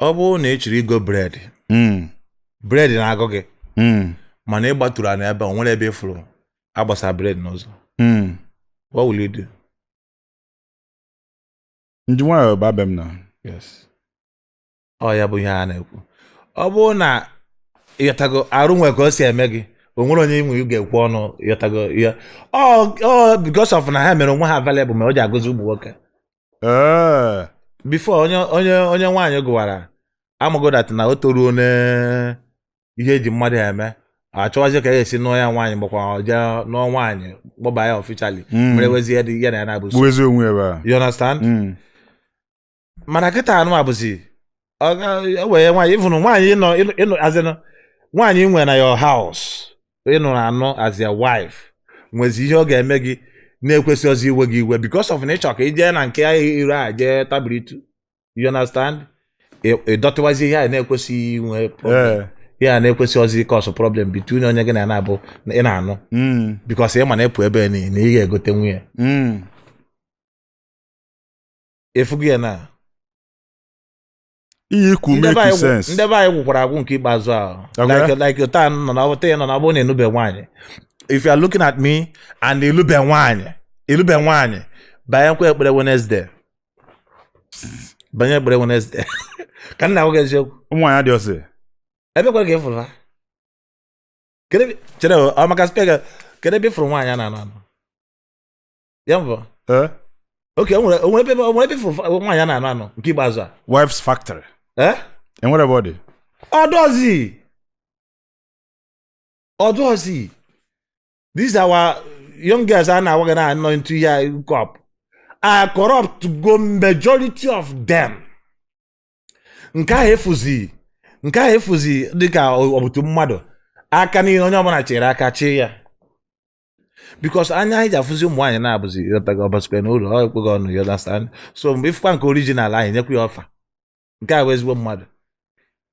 ọ bụrụ na ị chọrọ igo bread Mm, bread na-agụ gị mm, mana ị gbatụrụ ana ebe a, o nwere ebe ị fụrụ agbasa bread n'ụzọ mm. what will you do Ndị nwaanyị ba be m na. yes ọ ya bụ ihe a na-ekwu ọ bụrụ na ịghọtago arụ nwe ka o si eme gị o nwere onye inwe ga-ekwu ọnụ ịghọtago ya ọ ọ because of na ha mere onwe ha available ma o ji agụzi ụmụ nwoke ee before onye onye onye nwaanyị gụwara amago that na o toruo na ihe eji mmadụ eme achọwazi ka esi nụọ ya nwaanyị makwa jee nụọ nwaanyị kpọba ya officially Mm. mere wezi ya dị- ya na ya na-abụ so. gbuo ezi onwe ebe a you understand Mm. mana kịta anụ abụzi ọ ga- e wee nwaanyị ịfụnụ nwaanyị ịnọ ịnọ- ịnọ azịnụ nwaanyị nwere na your house ị nụrụ anụ as your wife nwezi ihe ọ ga-eme gị na-ekwesịọzi iwe gị iwe because of na ịchọ ka ị jee na nke ya ire a jee tabiritu you understand Ị- ịdọtịwazi ihe a na-ekwesịghị inwe problem. Ee. ihe a na-ekwesịọzi ị cause problem between onye gị na ya na-abụ na ị na-anụ Mm. because ị ma na ịpụ ebe niile na ị ga-egote nwunye Mm. efugo ya na ihe ikwu Ndị be make anyị gwụ- sense ndị be anyị gwụkwara agwụ nke ikpeazụ ahụ Okay. like like otu a nọ na ọbụta ya nọ na ọbụ na elube nwaanyị if you are looking at me and elube nwaanyị elube nwaanyị banyekwa ekpere Wednesday banye ekpere Wednesday ka nna nwoke eziokwu ụmụ nwaanyị dị ọsị ebe kwa ka ị fụrụ ha Kedu ebe- chere o, ọ maka spec kedu ebe ị fụrụ nwaanyị a na-anụ anụ ya bụ Eh? oke o nwere o nwere ebe o nwere ebe fụrụ nwaanyị a na-anụ anụ nke ikpeazụ a wives factory Eh? enwere ebe ọ dị ọ dịọzi ọ dịọzi these our young girls a na-awagharị na-anọ into hookup a corrupt go majority of them nke a fụzi nke a fụzi dịka ọ bụtụ mmadụ aka niile onye ọbụla chere aka chee ya because anya anyị ji afụzi ụmụ nwaanyị na-abụzi ịghọtago ọbasikwa na ụlọ ọ ekweghị ọnụ you understand so mgbe ịfụkwa nke original anyị nyekwa ya offer nke a bụ ezigbo mmadụ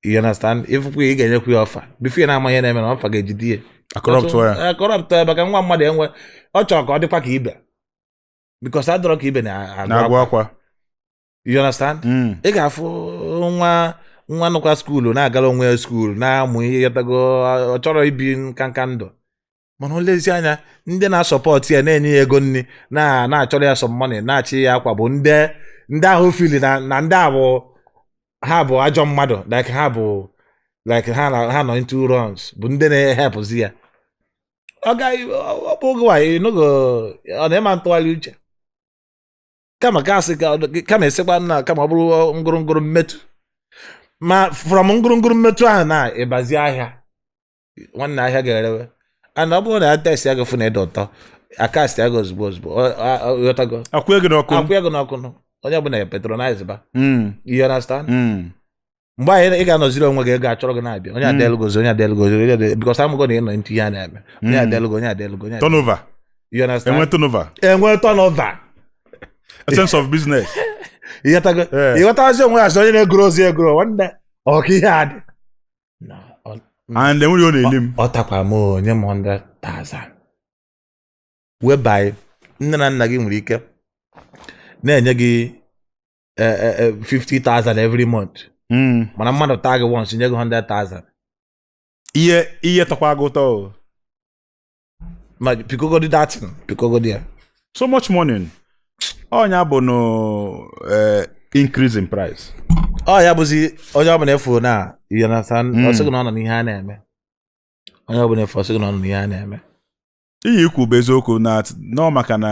you understand ịfụkwa ya ị ga-enyekwa ya offer before ya na-ama ihe na-eme na fa ga-ejide ya akọrọpụtụ ya akọrọpụtụ ya maka nwa mmadụ enwe ọ chọrọ ka ọ dịkwa ka ibe because adịrọ ka ibe na-agụ na-agụ akwa akwa you understand Mm. ị ga-afụ nwa nwa nọkwa skuulu na-agara onwe ya skuulu na-amụ ihe ị ghọtago ọ chọrọ ibi nkanka ndụ mana o lezi anya ndị na-asọpọtụ ya na-enye ya ego nri na-achọrọ ya some money na-achị ya akwa bụ ndị ndị ahụ fili na ndị a bụ ha bụ ajọ mmadụ like ha bụ like ha na ha nọ into runs bụ ndị na-ehepụzi ya ọ gaghị ọ bụ oge nwaanyị n'oge ọ na-eme ntụgharị uche kama ka asị kama esekwa nna kama ọ bụrụ ngụrụngụrụ mmetụ ma from ngụrụngụrụ mmetụ ahụ na ịbazi ahịa nwanne ahịa ga-erewe and ọ bụrụ na a testịa gị fụ na ị dị ụtọ a kastịa gị ozugbo ozugbo ghọtago akwụ ego n'ọkụ akwụ ego n'ọkụ onye ọbụla ya patronize ba hmm. you understand hmm. mgbe ahụ ị ga-anọziri onwe gị ego achọrọ gị na-abịa onye hmm. adelgozi onye adelgozi because amago na ị nọ into ihe a na-eme onye adelgo onye adelgo ị nwee turnover you understand enwe turnover enwe turnover a sense of business ịghọtazi onwe ya sị onye na-egoro ozi egoro nwanne ọ ka ihe a dị and e nwere ọ na-eli m ọ takwa m o nye m 100,000 whereby nne na nna gị nwere ike na-enye gị 50,000 e, e, e, every month hmm. mana mmadụ taa gị once nye gị 100,000 ihe ihe tọkwa gị ụtọ ma pikogodi that thing pikogodi ya so much money ọ ya bụ no eh, increase in price ọ ya bụzi onye ọbụla ị fụ na you understand Mm. ọ sị gị na ọ nọ n'ihe a na-eme onye ọbụla ị fụ ọ sị gị na ọ nọ n'ihe a na-eme ihe ị kwu bụ eziokwu na nọ maka na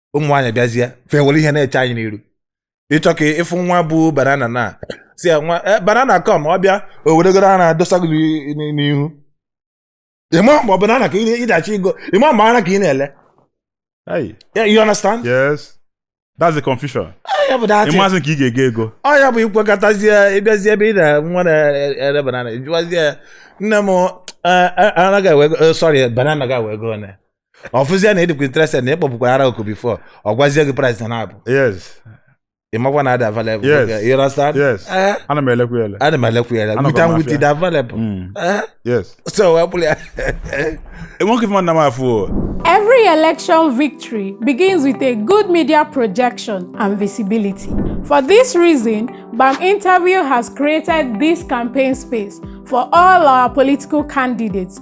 ụmụ nwaanyị bịazie fa were ihe na-eche anyị n'iru ị chọ ka ị fụ nwa bu banana na-asị ya nwa "Eh, banana come ọ bịa o weregoro ara dọsa gị n'i- n'i- n'ihu ịma mgbe banana ka ị na-achọ igo ịma mgbe ara ka ị na-ele Hey, Yeah, you understand? yes that's the confusion ya bụ that ị mazị nke ị ga-ego ego ọ ya bụ i kwekọtazie ị bịazie ebe ị na nwa na-ere banana jụwazie ya, nne m eh, eh, ara ga-ewe ego eh, sorry banana ga-ewe ego one ọ fụzie na ị dịkwa interested na ịkpọpụkwara ara oku before ọ gwazie gị price na na-abụ yes ị makwa na a dị available Yes. Okay, you understand? yes Eh, ana m elekwa ele ana m elekwu ya Anọkwa wit and m wit afịa. dị available Mm, Eh, yes so wee bụrụ ya enweghị mmadụ na m afụ o Every election victory begins with a good media projection and visibility. For this reason, BAM Interview has created this campaign space for all our political candidates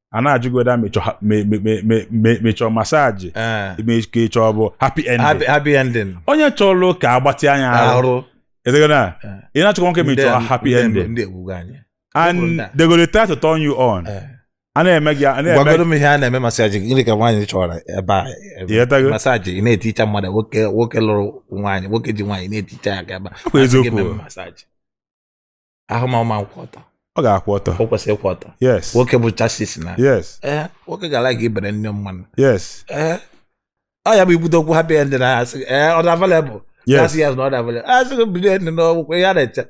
a na-ajụgoda ma ị chọ masaji eh. ka ị chọ bụ happy ending onye chọrọ ka agbatị anya arụ edegona eh. ị na-achọkwa nwoke ma ị chọ happy ending and they go dey try to turn you on eh. a na-eme gị a na-eme gwagodo m ihe a na-eme masaji gịnị ka nwaanyị chọrọ ebe a masaji ị na-eticha mmadụ nwoke nwoke lụrụ nwaanyị nwoke ji nwaanyị na-eticha ya ka ebe a eziokwu ahụ ma ọma nkwụ ọtọ ọ ga-akwụ ọtọ o kwesịrị ịkwụ ọtọ yes nwoke bụ chassis na yes ee nwoke ga-ara gị ibere nne mmanụ yes ee ọ ya bụ ibute okwu happy ending na asị ee ọ dị available yes asị ya na ọ dị available asị gị bido ending n'ọgwụkwọ ihe a na-eche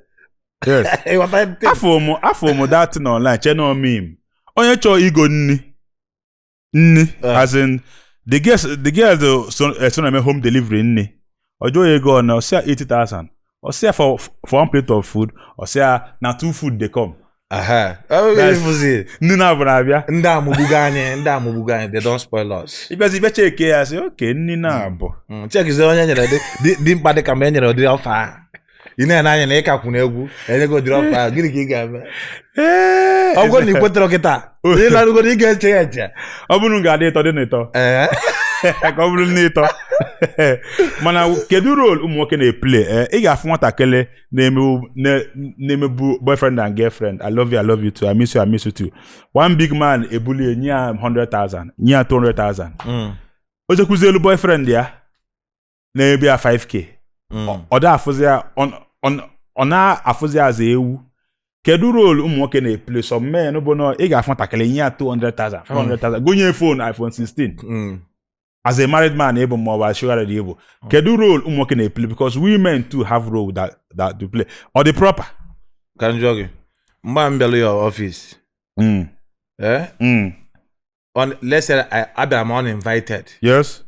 yes ịghọta ntị afọ mụ afọ mụ dating online cheno mim onye chọọ igo nri nni Eh. as in the girl the girl the son eh, so na-eme home delivery nni ọ jụọ ya ego one ọ sị ya 80,000 ọ sị ya for for one plate of food ọ sị ya na two food dey come Aha. Oh, That's- ịfụzi. nni naabọ na-abịa ndị a emegbugo anyị ndị a emegbugo anyị they don spoil us ịbịazi bịa cheke ya sị okay nni naabọ Mm, chekizie onye nyere dị- dị- dị mkpa dị ka ma e nyere ụdị offer ahụ ị na-ene anya na ịka kwụna egwu enye gị ụdịrị offer ahụ gịnị ka ị ga-eme Ee, ọ bụrụ na ị kwetara kịta ị narugoro ị ga-eche ya eche ọ bụrụ m ga-adị ịtọ dị n'ịtọ ee ka ọ bụrụ n'ịtọ mana kedu role ụmụ nwoke na-eplay ee, ị ga-afụ nwatakịrị na-emebu na- na-emebu boyfriend and girlfriend i love you i love you too i miss you i miss you too one big man ebulie nye ya 100,000 nye ya 200,000 o jekwuzi elu boyfriend ya na-ebi ya 5k Mm. ọ- ọ da afụzi ya ọ- ọ- ọ na-afụzi ya as ewu kedu role ụmụ nwoke na-eplay some men bụ na ị ga-afụ nwatakịrị nye ya 200,000 500,000 gonye phone iPhone 16 Mm. as a married man ịbụ ma ọ bụ as sugar daddy ịbụ kedu role ụmụ nwoke na-eplay because women too have role that that to play ọ dị proper ka m jụọ gị mgbe m bịara your office mm. eh? Mm. on, let's say I, abịara m uninvited yes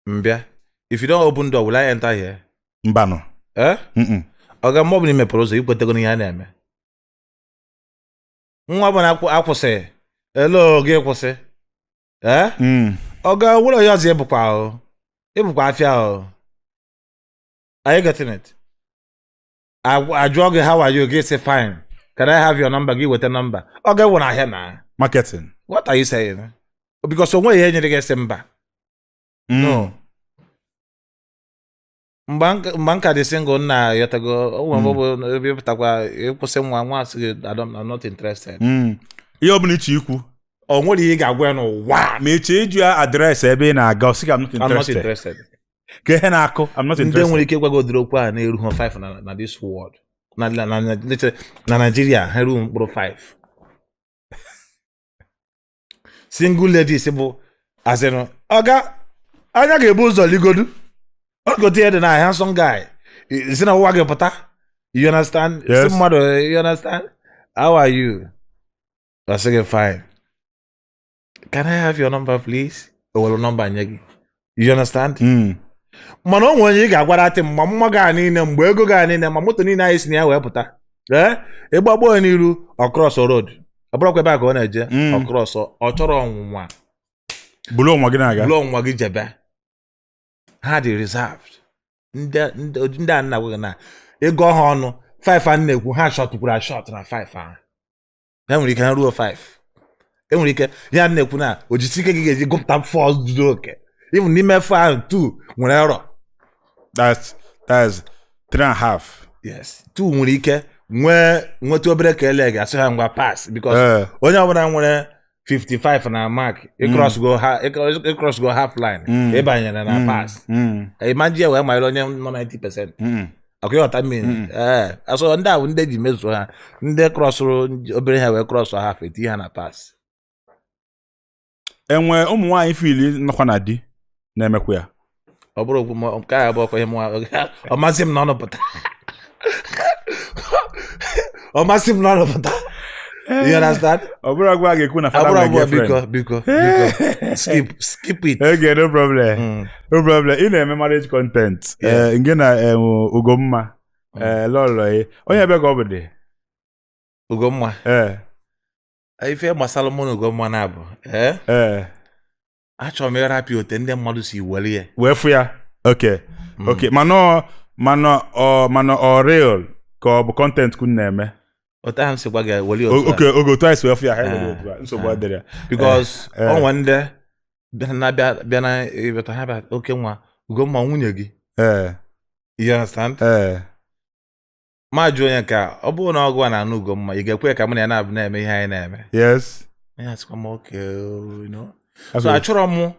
m bịa if you don't open door will I enter here mbanụ eh mm-mm. ọga mgbe ọbụla i mepere ụzọ ikwetego n'ihe a na-eme nwa ọbụla akwụ- akwụsị elo gị kwụsị ee Mm. ọ ga ụlọ ya ọzọ ịbụkwa ahụ ịbụkwa afịa ahụ are you getting it Agwa- ajụọ gị how are you gị sị fine can I have your number gị weta nọmba ọ ga-ewu na ahịa na marketing what are you saying because o nweghị ihe nyere gị sị mba Mm. no mgbe m ka- mgbe m ka dị single nna ayọtago o nwere mgbe ọ bụ ebe ịpụtakwa ịkwụsị nwa nwa asị gị "I don't- I'm not interested Mm. ihe ọ bụla iche ikwu o nwere ihe ị ga-agwa ya n'ụwa a, ma eche ịjụ ya address ebe ị na-aga ọ sị gị I'm not I'm not interested interested ka ihe na-akụ I'm not interested ndị nwere ike ịgwa gị ụdịrị okwu a na-eru ha 5 na na this world na na na na Nigeria ha erughị mkpụrụ 5 single ladies bụ as in ọga anya ga-ebu ụzọ legodu ọ ghọta ihe dị na handsome guy I- si na ụwa gị pụta you understand Yes. sị mmadụ you understand how are you ọ sị gị fine can i have your number please o were nọmba nye gị you understand Mm. mana o nwere onye ị ga-agwara atị mgbe mma gị a niile mgbe ego gị a niile ma moto niile anyị si na ya wee pụta ee ị gbagbo ya n'iru ọ krọsọ road ọ bụrụkwa ebe a ka ọ na-eje Mm. ọ krọsọ ọ chọrọ ọnwụnwa bulu onwe gị na-aga bulu onwe gị jebe ha dị reserved ndị ndị ụdị ndị a m na-agwa gị na ị gụọ ha ọnụ 5 a na-ekwu ha shọtụkwuru ashọt na 5 ahụ ya nwere ike ha ruo 5 e nwere ike ya na-ekwu na ọ ijisi ike ka ị ga-eji gụpụta 4 zuru oke even n'ime 4 ahụ 2 nwere error that's that's three and a half yes 2 nwere ike nwee nweta obere ka ele gị asị ha ngwa pass because Eh, onye ọbụla nwere 55 na mark ị crossgo ha- ị cross- ị crossgo half line Mm. ị banyere na pass mm, ị ma-eji ya wee mara onye nọ 90 percent mm. ọkwa ị ghọta ihe m mean Mm. ee so ndị a bụ ndị e ji mezuo ha ndị krọsụrụ nj- obere ha wee krọsụ half e tii ha na pass e nwe ụmụ nwaanyị fili nọkwa na di na-emekwa ya ọ bụrụ okwu ma nke a bụ ọkwa ihe mụnwa ọ ma-esi m n'ọnụ pụta ọ ma-esi m n'ọnụ pụta you understand ọ bụrụ agwa a ga-ekwu na fada abụrụ nwere abụọ girlfriend biko biko biko skip skip it Okay, no problem. Mm. No problem. Ị na-eme marriage content. Yeah. Eh, Ngị na em, Ugomma. Mm. Eh, Lọlọ ya. Onye ebee ka ọ bụ dị? Ugomma Eh, ife gbasara mụ na Ugomma na-abụ eh? eh. achọrọ m ịrapụ ya otu ndị mmadụ si were ya wee fụ ya okay hmm. okay mana ọ mana ọ mana ọ real ka ọ bụ content ka unu na-eme otu ahụ m si gwa gị were otu okay oge otu anyị si wee fụ ya ha were otu a eh, nsogbu eh. adịrọ ya because eh, o nwe ndị bịa na ịbata ha bịa oke nwa Ugomma nwunye gị ee you understand ee m ajụọ onye nke a ọ bụrụ na ọ gị na-anụ Ugomma ị ga-ekwe ka mụ na ya na-abụ na-eme ihe anyị na-eme yes Onye asịkwa m okay you know. That's so what- achọrọ m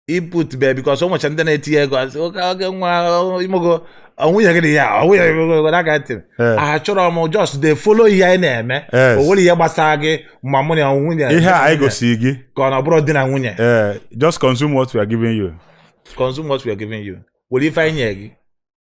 iput be because o nwecha ndị na-etinye ego asị oke oge nwa ọ, imogo ọ nwunye gị dị ya ọ nwunye gị that kind of thing Eh. achọrọ m just dey follow ihe anyị na-eme Yes. o nwerọ ihe gbasara gị ma mụ na nwunye ihe a anyị gosiri gị ka ọ na ọ bụrọ di na nwunye eh, just consume what we are giving you consume what we are giving you were ife anyị nye gị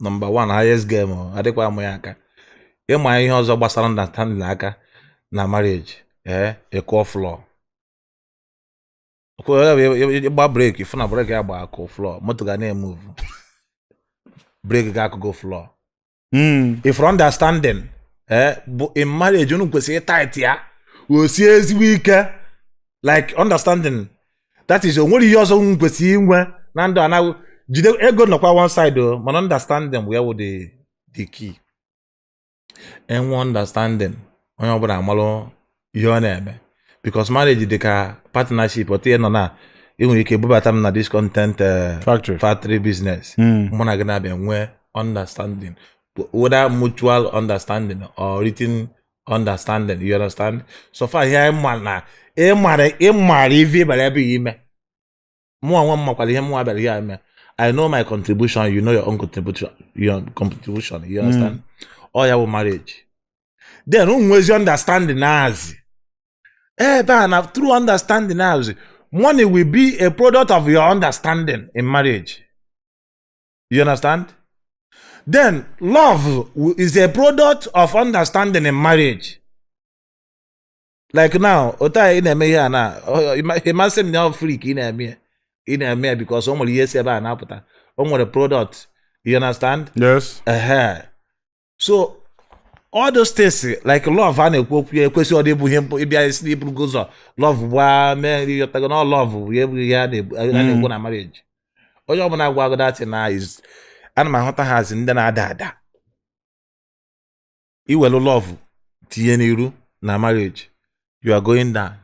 number one highest game ọ adịkwa amụ ya aka ịma ihe ọzọ gbasara understanding aka na marriage ee ị kụọ floor ị gba brake ị fụ na brake ya gba akụ floor moto ga na-emove brake gị akụgo floor Mm. ife understanding eh, bụ in marriage unu kwesịrị ịtight ya o sie ezigbo ike like understanding that is o nwere ihe ọzọ m kwesịrị inwe na ndụ anaghị jide ego nọkwa one side o mana understanding ya wụ the the key enwe understanding onye ọbụla amalụ ihe ọ na-eme because marriage dị ka partnership otu ihe nọ na ị nwere ike bubata m na this content eh, factory factory business Mm. mụ na gị na-abịa nwee understanding whether mutual understanding or written understanding you understand so far ihe anyị ma na ị mara ị mara ive ị bịara ebe ahụ ime mụ onwe m makwara ihe mụ bịara ya ime I know my contribution you know your own contribution your contribution you understand ọ ya bụ marriage then unu nwezi understanding as in ebe a na true understanding as in money will be a product of your understanding in marriage You understand? Then love is a product of understanding in marriage. Like now, otu a ị na-eme ihe a na ịmasị m na freak ị na-eme ị na-eme because o nwere ihe si ebe a na-apụta o nwere product you understand? Yes. Uh-huh. so all those things like love a na-ekwu okwu ya ekwesịrọdị ịbụ ihe ịbịa isi na iburugo ụzọ love gbaa mee nri ị ghọtago na love bụ ya abụghị ihe a na-ekwu na marriage onye ọbụla agwago that na ana m ahụta ha as ndị na-ada ada i welu love tinye n'iru na marriage you are going down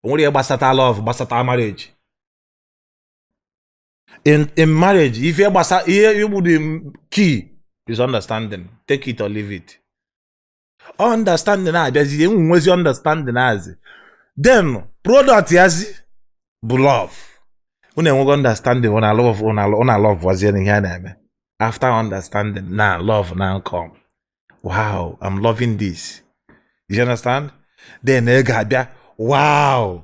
o nwere ihe gbasata love gbasata marriage in in marriage ife gbasa ihe igbu the key is understanding take it or leave it understanding abịazi enwe nwezi understanding azi then product yazi bụ love unu enwego understanding una love una una love wazie n'ihe a na-eme after understanding na love na come wow i'm loving this you understand then ị ga-abịa wow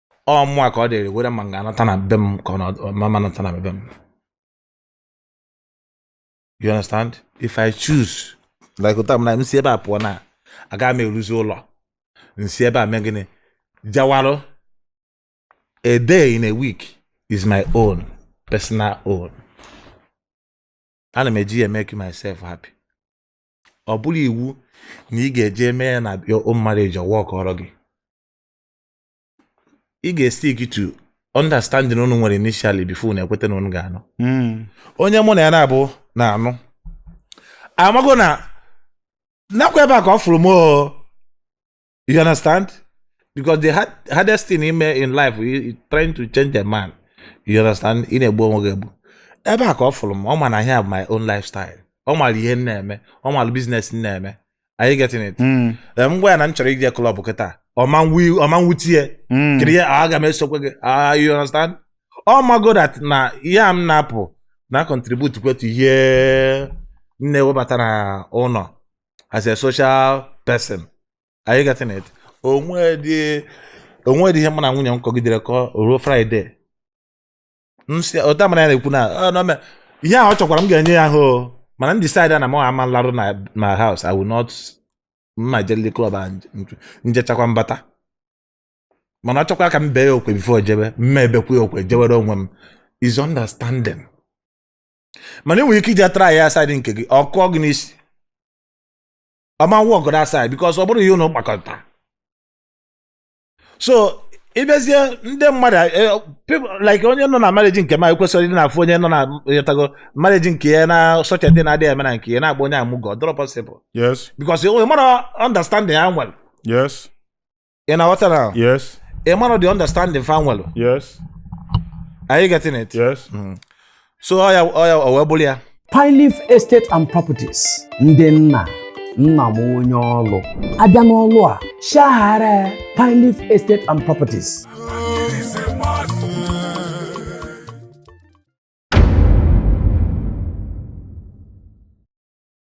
ọ mụwa ka ọ dịrị were ma m ga-anata na be m ka ọ na ma m anata na be m you understand if i choose like otu a m na m si ebe a pụọ na aga m eruzi ụlọ m si ebe a mee gịnị jawarụ a day in a week is my own personal own ana m eji ya make myself happy ọ bụrọ iwu na ị ga-eje mee ya na your own marriage ọ workọrọ gị ị ga-estick to understanding unu nwere initially before unu ekweta na unu ga-anụ hmm. onye mụ na ya na-abụ na-anụ amago na nakwa ebe a ka ọ fụrụ m you understand because the hardest thing ime in life is trying to change a man you understand ị na-egbu onwe gị egbu ebe a ka ọ fụrụ m ọ ma na ihe a bụ my own lifestyle ọ mara ihe m na-eme ọ mara business m na-eme are you getting it Mm, Ee, m gwa ya na m chọrọ ije club kịta ọ ma nwu- ọ ma nwute ya mm. kiri ya aga m esokwa gị Ah, you understand ọ mago that na ihe a m na-apụ na-econtribute kwa to ihe m na-ewebata na ụlọ as a social person are you getting it o nwedị o nwedị ihe mụ na nwunye m kọgidere kọ ruo Friday ụdamara ya na-ekwu na ihe ahụ ọ chọkwara m ga-enye ya ahụ mana m decide na m ama larụ na my house I will not m ma jelili club a m jechakwa m bata mana ọ chọkwara ka m bee ya okwe before jebe m ma ebekwa ya okwe jewere onwe m is understanding mana enwere ike iji try ya aside nke gị ọ kụọ gị n'isi ọ ma workụrụ aside because ọ bụrụ ihe ụnụ kpakọta so ịbịazie ndị mmadụ eh, people like onye nọ na marriage nke ma ekwesịrị ịdị na-afụ onye nọ na ịghọtago marriage nke ya na society na-adịghị eme na nke ya na-agba onye amụgọ dịrọ possible yes because ị mara understanding ya nwere yes ị na-aghọta na yes ị mara the understanding fa nwere yes are you getting it yes so ọ ya ọ ya o wee bụlụ ya Pineleaf Estate and Properties ndị nna nna m onye ọlụ a bịa n'ọlụ a shaghara Pineleaf Estate and Properties